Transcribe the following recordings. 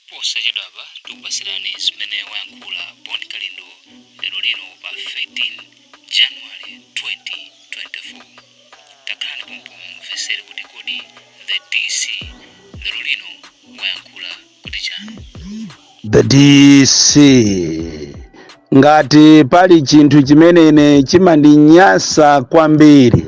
Posachedwapa tikupatsirani zimene wayankhula Bon Kalindo lero lino pa 13 January 2024. Takhalani pompo mumvetsere kuti kodi the DC lero lino wayankhula kuti chani. The DC Ngati pali chinthu chimene ine chimandinyansa kwambiri,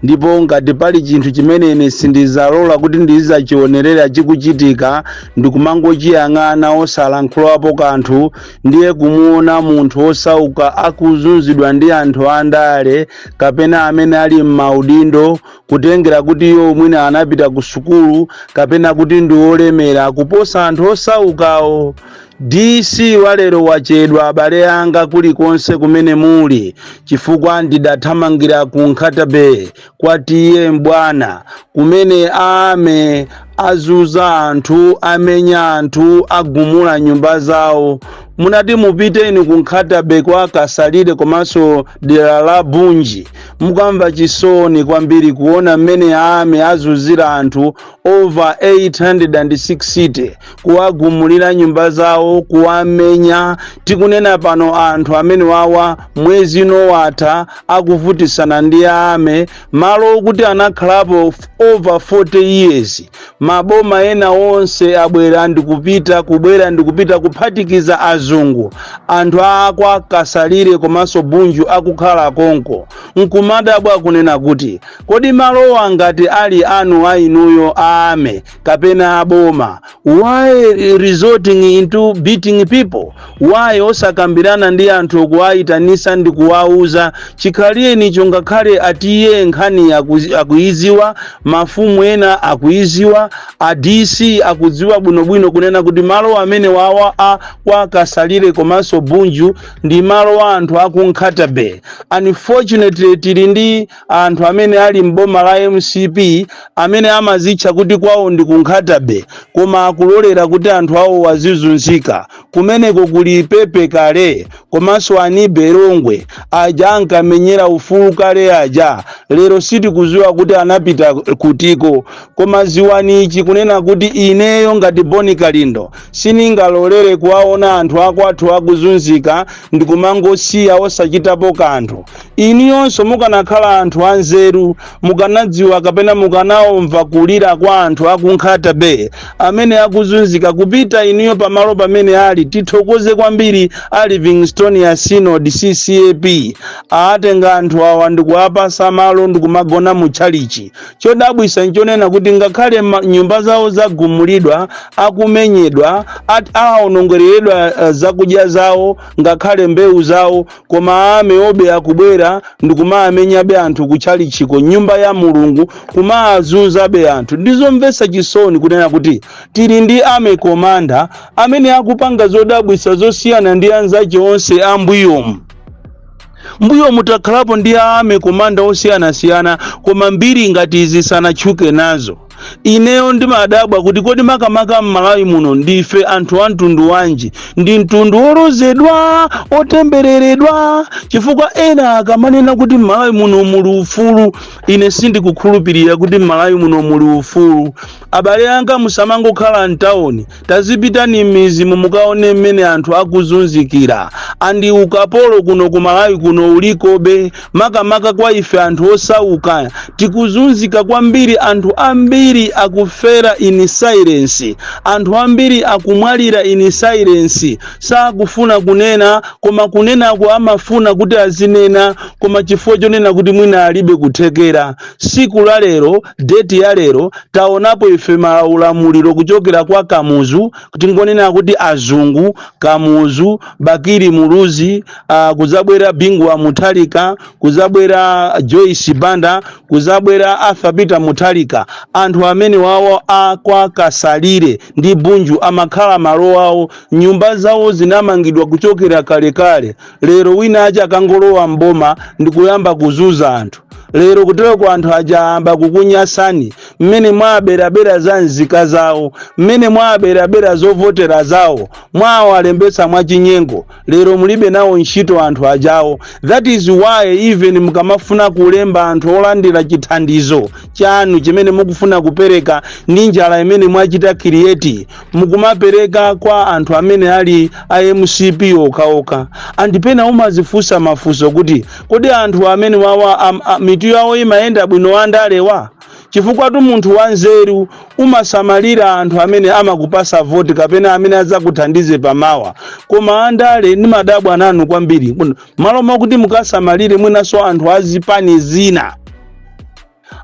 ndipo ngati pali chinthu chimene ine sindizalola kuti ndizachionerera chikuchitika, ndikumangochiyang'ana osalankhulapo kanthu, ndiye kumuona munthu wosauka akuzunzidwa ndi anthu andale kapena amene ali m'maudindo, kutengera kuti iwo mwina anapita ku sukulu kapena kuti ndi olemera kuposa anthu osaukawo. DC walero wachedwa abale anga kulikonse kumene muli chifukwa ndidathamangira ku Nkhata-Bay kwa T/A Mbwana kumene a army azunza anthu amenya anthu agumula nyumba zawo munati mupiteni ku Nkhata-Bay kwa Kasalire komanso dera la Bunji mukamva chisoni kwambiri kuona mmene a army azunzira anthu over 860 kuwagumulira nyumba zawo kuwamenya tikunena pano anthu amenewawa mwezi uno watha akuvutisana ndi a army malo okuti anakhalapo f- over 40 years maboma ena onse abwera ndikupita kubwera ndikupita kuphatikiza azungu anthu akwa kasalire komanso bunju akukhala konko nkumadabwa kunena kuti kodi malowa ngati ali anu a inuyo a army kapena aboma why resorting into beating people why osakambirana ndi anthu kuwayitanisa ndi kuwauza chikhalirenicho ngakhale a T/A nkhani akuzi- akuiziwa mafumu ena akuiziwa a dc akudziwa bwinobwino kunena kuti malo amenewawa a kwa kasalire komanso bunju ndi malo wa anthu aku nkhata bay unfortunately tili ndi anthu amene ali m'boma la mcp amene amazitcha kuti kwawo ndi ku nkhata bay koma akulolera kuti anthu awowo azizunzika kumeneko kuli pepe kale komanso anibe longwe aja ankamenyera ufulu kale aja lero sitikuziwa kuti anapita kutiko koma ziwani ichi kunena kuti ineyo ngati bon kalindo siningalolere kuwaona anthu akwathu akuzunzika ndikumangosiya osachitapo kanthu Inuyonso mukanakhala anthu anzeru mukanadziwa kapena mukanaomva kulira kwa anthu aku Nkhata Bay amene akuzunzika kupita inuyo pamalo pamene ali tithokoze kwambiri a Livingstonia Synod CCAP aatenga anthu awa ndikuwapasa malo ndikumagona mu tchalichi chodabwisa nchonena kuti ngakhale ma- nyumba zawo zagumulidwa akumenyedwa at- aonongereredwa eh, zakudya zawo ngakhale mbewu zawo koma armywobe akubwera ndikumaamenyabe anthu kutchalichiko nyumba ya mulungu kumaazunzabe anthu ndizomvetsa chisoni kunena kuti tili ndi army commander amene akupanga zodabwitsa zosiyana ndi anzache onse ambuyomu mbuyomu takhalapo ndi army commander osiyanasiyana koma mbiri ngati izi sanatchuke nazo Ineyo ndimadabwa kuti kodi makamaka m'Malawi muno ndife anthu a mtundu wanji? Ndi mtundu wolozedwa, otembereredwa? Chifukwa ena akamanena kuti m'Malawi muno muli ufulu, ine sindikukhulupirira kuti m'Malawi muno muli ufulu. Abale anga musamangokhala m'tawuni tazipitani m'mizimu mukaone mmene anthu akuzunzikira and ukapolo kuno ku malawi kuno ulikobe makamaka kwa ife anthu osauka tikuzunzika kwambiri anthu ambiri akufera in silence anthu ambiri akumwalira in silence sakufuna kunena koma kunenako amafuna kuti azinena koma chifukwa chonena kuti mwina alibe kuthekera siku la lero date ya lero taonapo ife maulamuliro kuchokera kwa kamuzu tingonena kuti azungu kamuzu bakili muluzi uh, kuzabwera bingu wa mutharika kuzabwera joyce banda kuzabwera arthur peter mutharika anthu amenewawo akwa kasalire ndi bunju amakhala malo awo nyumba zawo zinamangidwa kuchokera kalekale lero wina aja akangolowa mboma ndikuyamba kuzuza anthu lero kutereku anthu aja ayamba kukunyasani mmene mwaaberabera za nzika zawo mmene mwaaberabera zovotera zawo mwawalembetsa mwachinyengo lero mulibe nawo ntchito anthu ajawo that is why even mukamafuna kulemba anthu olandira chithandizo chanu chimene mukufuna kupereka ndi njala imene mwachita create mukumapereka kwa anthu amene ali a mcp okhaokha and pena umazifunsa mafunso kuti kodi anthu amenewawa am, a, mitu yawo imayenda bwino andalewa chifukwatu munthu wanzeru umasamalira anthu amene amakupasa voti kapena amene adzakuthandize pamawa koma andale ndimadabwa nanu kwambiri Muno- m'malo mwakuti mukasamalire mwinanso anthu azipani zina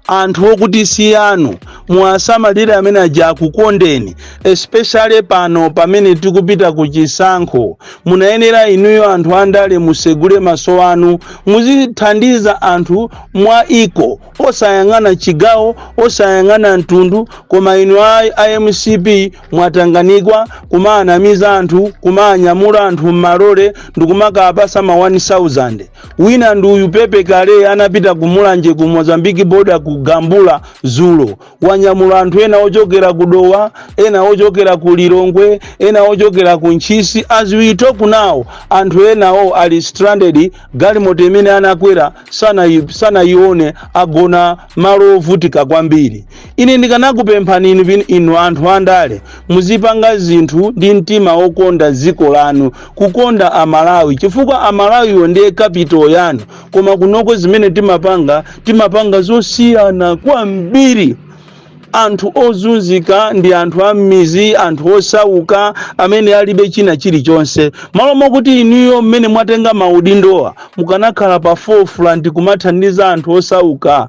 anthu okuti si anu muwasamalire mmene aja akukondeni especially pano pamene tikupita ku chisankho munayenera inuyo anthu andale musegule maso anu muzithandiza anthu mwa dziko osayang'ana chigawo osayang'ana mtundu koma inu a mcp mwatanganikwa kumaanamiza anthu kumaanyamula anthu m'malole ndikumakawapasa ma 1000 wina ndi uyu pepe kale anapita ku mulanje ku mozambique border ku gambula zulo wanyamula anthu ena ochokera ku dowa ena ochokera ku lilongwe ena ochokera ku ntchisi as we talk now anthu enawo ali stranded galimoto imene anakwera sanayione agona malo ovutika kwambiri ine ndikanakupemphani inu anthu andale muzipanga zinthu ndi mtima wokonda dziko lanu kukonda amalawi chifukwa amalawiwo ndiye capital yanu koma kunoko zimene timapanga timapanga zosiyana kwambiri anthu ozunzika ndi anthu a m'mizi anthu osauka amene alibe china chilichonse malo mokuti inuyo mmene mwatenga maudindowa mukanakhala pa forefront kumathandiza anthu osauka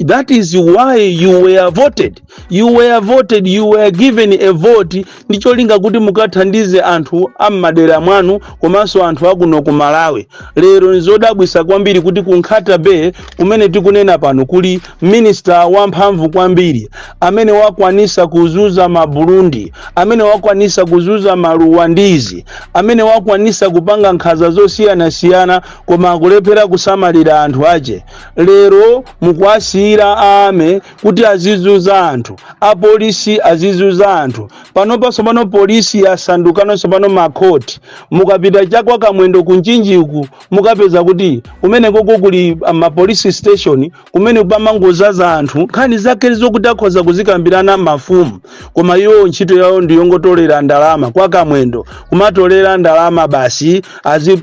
that is why you were voted you were voted you were given a vote ndi cholinga kuti mukathandize anthu a m'madera mwanu komanso anthu akuno ku malawi lero nzodabwisa kwambiri kuti ku nkhata bay kumene tikunena pano kuli minister wamphamvu kwambiri amene wakwanisa kuzuza maburundi amene wakwanisa kuzuza maruwandizi amene wakwanisa kupanga nkhaza zosiyanasiyana koma akulephera kusamalira anthu ache lero mukuwasiyira army kuti azizuza anthu apolisi azizuza anthu panopa tsopano polisi yasandukano tsopano makoti mukapita chakwa kamwendo ku mchinji uku mukapeza kuti kumenekoko kuli mapolisi station kumene pamangozaza anthu nkhani zake zokuti akhoza kuzikambirana mafumu koma iwo ntchito yawo ndiyongotolera ndalama kwa kamwendo kumatolera ndalama basi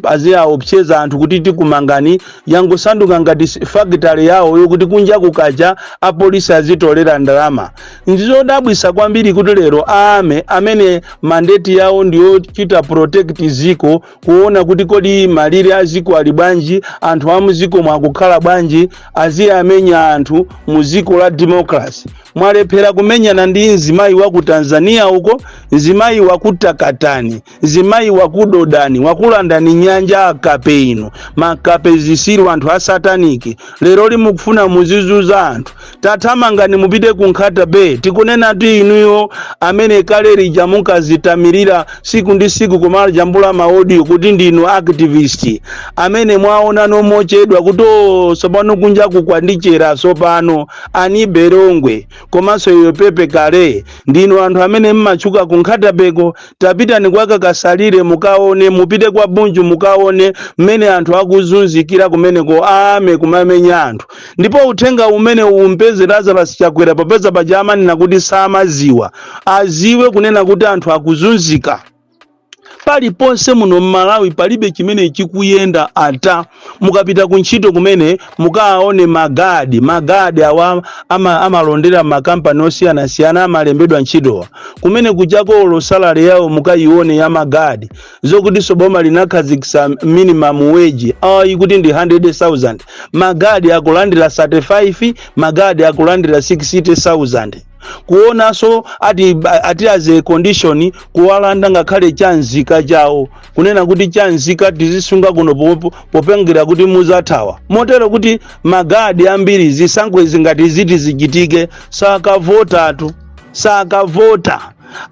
aziaopseza anthu kuti tikumangani yangosanduka ngati fakitale yawo yokuti kunja kukacha apolisi azitolera ndalama ndizodabwisa kwambiri kuti lero a army amene mandate yawo ndiyochita protect ziko kuona kuti kodi malire a ziko ali bwanji anthu a muziko mwa akukhala bwanji aziyamenya anthu mu ziko la democracy mwalephera kumenyana ndi mzimayi wa ku tanzania uko mzimayi wa ku takatani zimayi wakudodani wakulandani nyanja akape inu makape zisiru anthu a sataniki lero limukufuna muzizuza anthu tathamangani mupite ku nkhata bay tikunena ti inuyo amene kale lija munkazitamirira siku ndi siku kumajambula maodiyo kuti ndinu activist amene mwaona nomochedwa kuti "Oh, tsopano kunja kukundichera tsopano ani berongwe komanso iyo pepe kale ndinu anthu amene mmatchuka ku nkhatabeko tapitani kwa kakasalire mukaone mupite kwa bunju mukaone mmene anthu akuzunzikira kumeneko amakumamenya anthu ndipo uthenga umene umpeze lazarus chakwera popeza paja amanena kuti samaziwa aziwe kunena kuti anthu akuzunzika paliponse muno mmalawi palibe chimene chikuyenda ata mukapita ku ntchito kumene mukawaone magadi magadi awa ama, amalondera mmakampani osiyanasiyana amalembedwa ntchitowa kumene kuchokera salary yawo mukayione ya magadi zokuti so boma linakhazikitsa minimum wage ayi kuti ndi 100000 magadi akulandira 35 magadi akulandira 60000 kuonanso ati, ati as a condition kuwalanda ngakhale chanzika chawo kunena kuti chanzika tizisunga kuno popo- popengera kuti muzathawa motero kuti magadi ambiri zisankho izi ngati ziti zichitike sakavotatu sakavota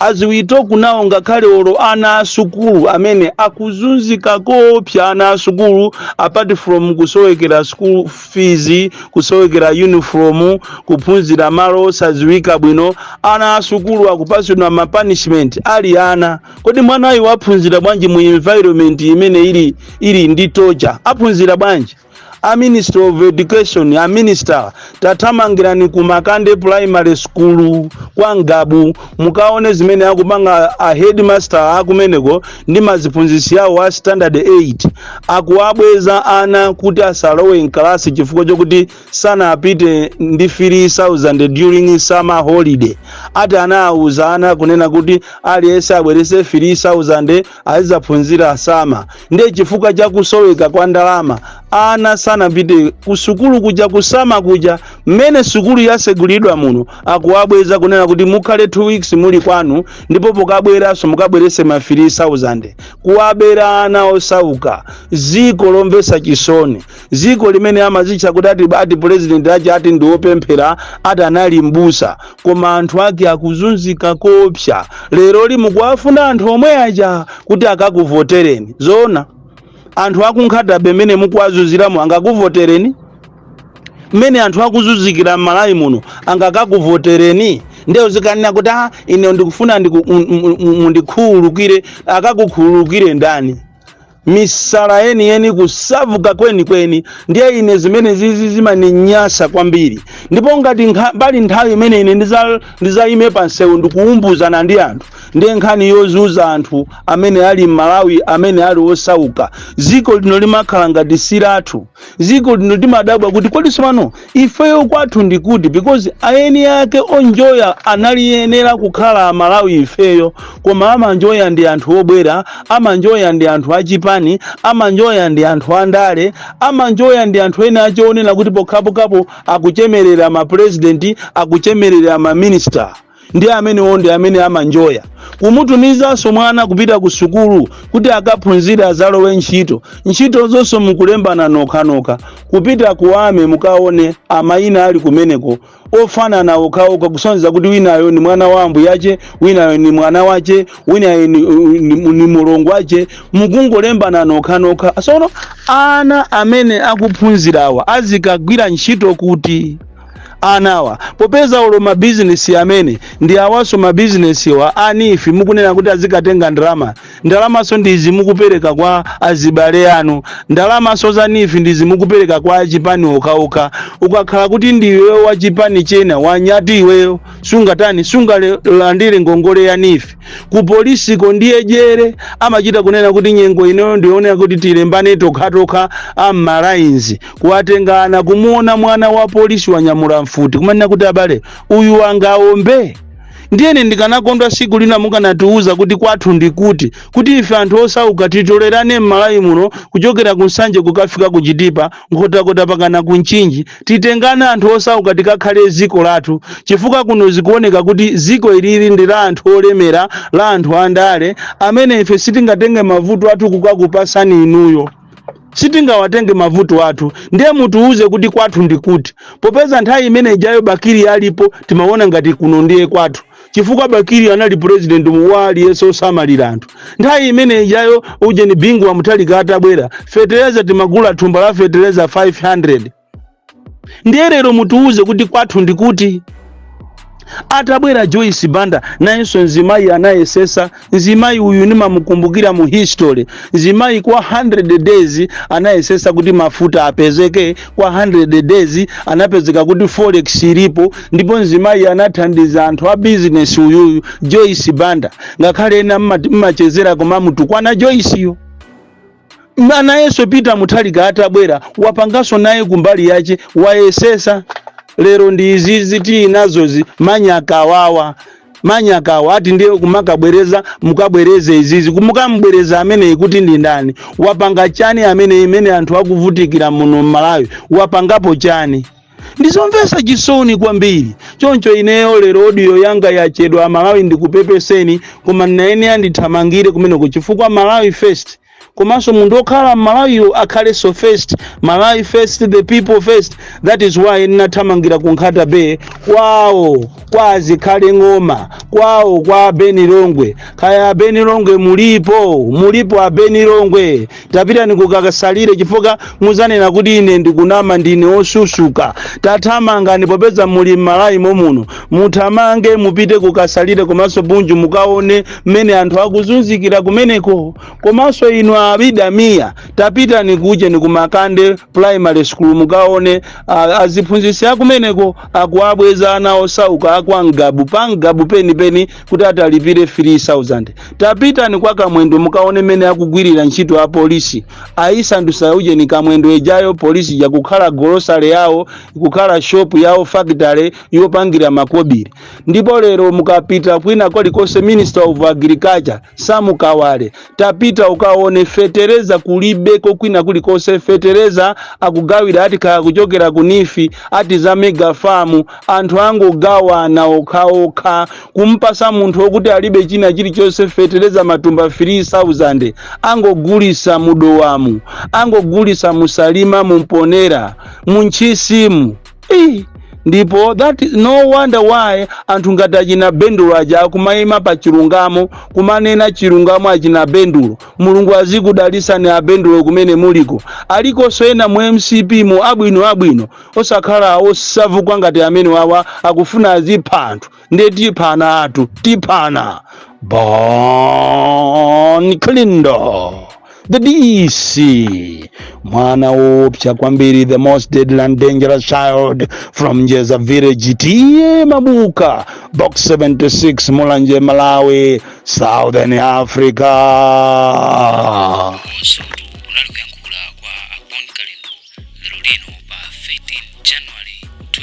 as we talk now ngakhale olo ana asukulu amene akuzunzika koopsa ana asukulu apart from kusowekera school fees kusowekera uniform kuphunzira malo osaziwika bwino ana asukulu akupasidwa ma punishment ali ana kodi mwanayu aphunzira bwanji mu environment imene ili ili ndi torture aphunzira bwanji a ministry of education a minister tathamangirani ku makande primary school kwa ngabu mukaone zimene akupanga a headmaster akumeneko ndi maziphunzitsi yawo a standard 8 akuwabweza ana kuti asalowe mkalasi chifukwa chokuti sanapite ndi 3000 during summer holiday ati anawawuza ana kunena kuti aliyense abwerese 3000 azizaphunzira summer ndiye chifukwa cha kusoweka kwa ndalama ana sanapite kusukulu kuja ku summer kuja mmene sukulu yasegulidwa muno akuwabweza kunena kuti mukhale 2 weeks muli kwanu ndipo pokabweranso mukabwerese ma 3000 kuwabera ana osauka ziko lomvesa chisoni dziko limene amazitcha kuti ati ati pulezidenti ache ati ndi wopemphera ati anali mbusa koma anthu ake akuzunzika koopsa leroli mukuwafuna anthu omwe aja kuti akakuvotereni zoona anthu aku nkhata bay mmene mukuwazunziramo angakuvotereni mmene anthu akuzunzikira m'malawi muno angakakuvotereni nde uzikanena kuti ah, ine ndikufuna ndiku- mu- mu- mu- mundikhululukire akakukhululukire ndani misala yeniyeni kusavuka kwenikweni ndiye ine zimenezizi zimaninyasa kwambiri ndipo ngati nkha- pali nthawi imene ine ndiza- ndizayime pa msewu ndikuumbuzana ndi anthu ndiye nkhani yozunza anthu amene ali m'malawi amene ali osauka dziko lino limakhala ngati si lathu ziko lino timadabwa kuti kodi tsopano ifeyo kwathu ndi kuti because ayeni ake onjoya analiyenera kukhala amalawi ifeyo koma amanjoya ndi anthu obwera amanjoya ndi anthu achipani amanjoya ndi anthu andale amanjoya ndi anthu ena ache onena kuti pokhapokhapo akuchemerera mapurezidenti akuchemerera maminista ndi amenewo ndi amene amanjoya kumutumizanso mwana kupita ku sukulu kuti akaphunzire azalowe ntchito ntchito zonse mukulembana nokhanokha kupita ku army mukaone amayina ali kumeneko ofanana okhaokha kusonyeza kuti winayo ni mwana wa ambuyache winayo ni mwana wache winayo ni, ni, ni mulongo wache mukungolembana nokhanokha sono ana amene akuphunzirawa azikagwira ntchito kuti anawa popeza olo mabizinesi amene ndi awaso mabizinesiwa a neef mukunena kuti azikatenga ndalama ndalamaso ndizi mukupereka kwa azibale anu ndalamaso za neef ndizi mukupereka kwa achipani okhaokha ukakhala kuti ndiwe wa chipani chena wanyati iweyo sungatani sungalandire ngongole ya neef ku polisiko ndiye jere amachita kunena kuti nyengo inoyo ndi yonena kuti tilembane tokhatokha am'malainzi kuwatenga ana kumuona mwana wa polisi wanyamula mfuti kumanena kuti abale uyu angaombe ndiye ine ndikanakondwa siku lina mukanatiuza kuti kwathu ndi kuti kuti ife anthu osauka titolerane m'malawi muno kuchokera ku nsanje kukafika ku chitipa nkhotakota pakana ku mchinji titengane anthu osauka tikakhale ziko lathu chifukwa kuno zikuoneka kuti ziko ilili ndi la anthu olemera la anthu andale amene ife sitingatenge mavuto athu kukakupasani inuyo sitingawatenge mavuto athu ndiye mutiuze kuti kwathu ndi kuti popeza nthawi imene ijayo bakiri alipo timaona ngati kuno ndiye kwathu chifukwa bakiri anali president wa aliyense osamalira anthu nthawi imene ijayo ujeni bingu wa mutharika atabwera fetereza timagula thumba la fetereza 500 ndiye lero mutiwuze kuti kwathu ndi kuti atabwera joyce banda nayenso mzimayi anayesesa mzimayi uyu nimamukumbukira mu history mzimayi kwa 100 days anayesesa kuti mafuta apezeke kwa 100 days anapezeka kuti forex ilipo ndipo mzimayi anathandiza anthu a business uyuyu joyce banda ngakhale ena mmachezera koma mutukwana joyce yo nayenso peter mutharika atabwera wapanganso naye kumbali yache wayesesa lero ndi izizi tinazozi manyakawawa manyakawa ati ndiye kumakabwereza mukabwereze izizi mukamubwereza ameneyi kuti ndi ndani wapanga chani amene imene anthu akuvutikira muno mmalawi wapangapo chani ndizomvesa chisoni kwambiri choncho ineyo lero odiyo yanga yachedwa amalawi ndikupepeseni koma ndinayenera ndithamangire kumeneko chifukwa malawi first komanso munthu okhala mmalawiyo akhaleso first malawi first the people first that is why ndinathamangira ku nkhata bay kwawo kwa azikhale ng'oma kwawo kwa abeni longwe kaya abeni longwe mulipo mulipo abeni longwe tapitani kukasalire chifukwa muzanena kuti ine ndikunama ndine osusuka tathamangani popeza muli m'malawi momuno muthamange mupite kukasalire komanso bunju mukaone mmene anthu akuzunzikira kumeneko komanso inu abidamiya tapitani kujeni kumakande primary school mukaone aziphunzitsi akumeneko akuwabweza ana osauka akwa ngabu pa ngabu penipeni kuti ati alipire 3000 tapitani kwa kamwendo mukaone mene akugwirira ntchito a polisi ayisandusa ujeni kamwendo ejayo polisi ija kukhala golosale yawo kukhala shopu yawo fakitale yopangira makobiri ndipo lero mukapita kwina kolikonse minister of agriculture sam kawale tapita ukaone fetereza kulibeko kwina kulikonse fetereza akugawira ati kaya kuchokera ku nifi ati za mega farm anthu angogawana okhaokha kumpasa munthu okuti alibe china chilichonse fetereza matumba 3000 angogulisa mudowamu angogulisa musalima mumponera muntchisimu ndipo that is no wonder why anthu ngati achina bendulo aja akumayima pa chilungamo kumanena chilungamo achina bendulo mulungu azikudalisani abendulo kumene muliko alikonso ena mu mcp mu abwino abwino osakhala osavukwa ngati amene wawa akufuna azipha anthu ndiye tiphana anthu tiphana Bon Kalindo the dc mwana wopsa kwambiri the most deadly and dangerous child from njeza village TA Mabuka box 76 mulanje malawi southern africa komanso kunali kuyankhula kwa abon kalindo lero lino pa 13 january 2024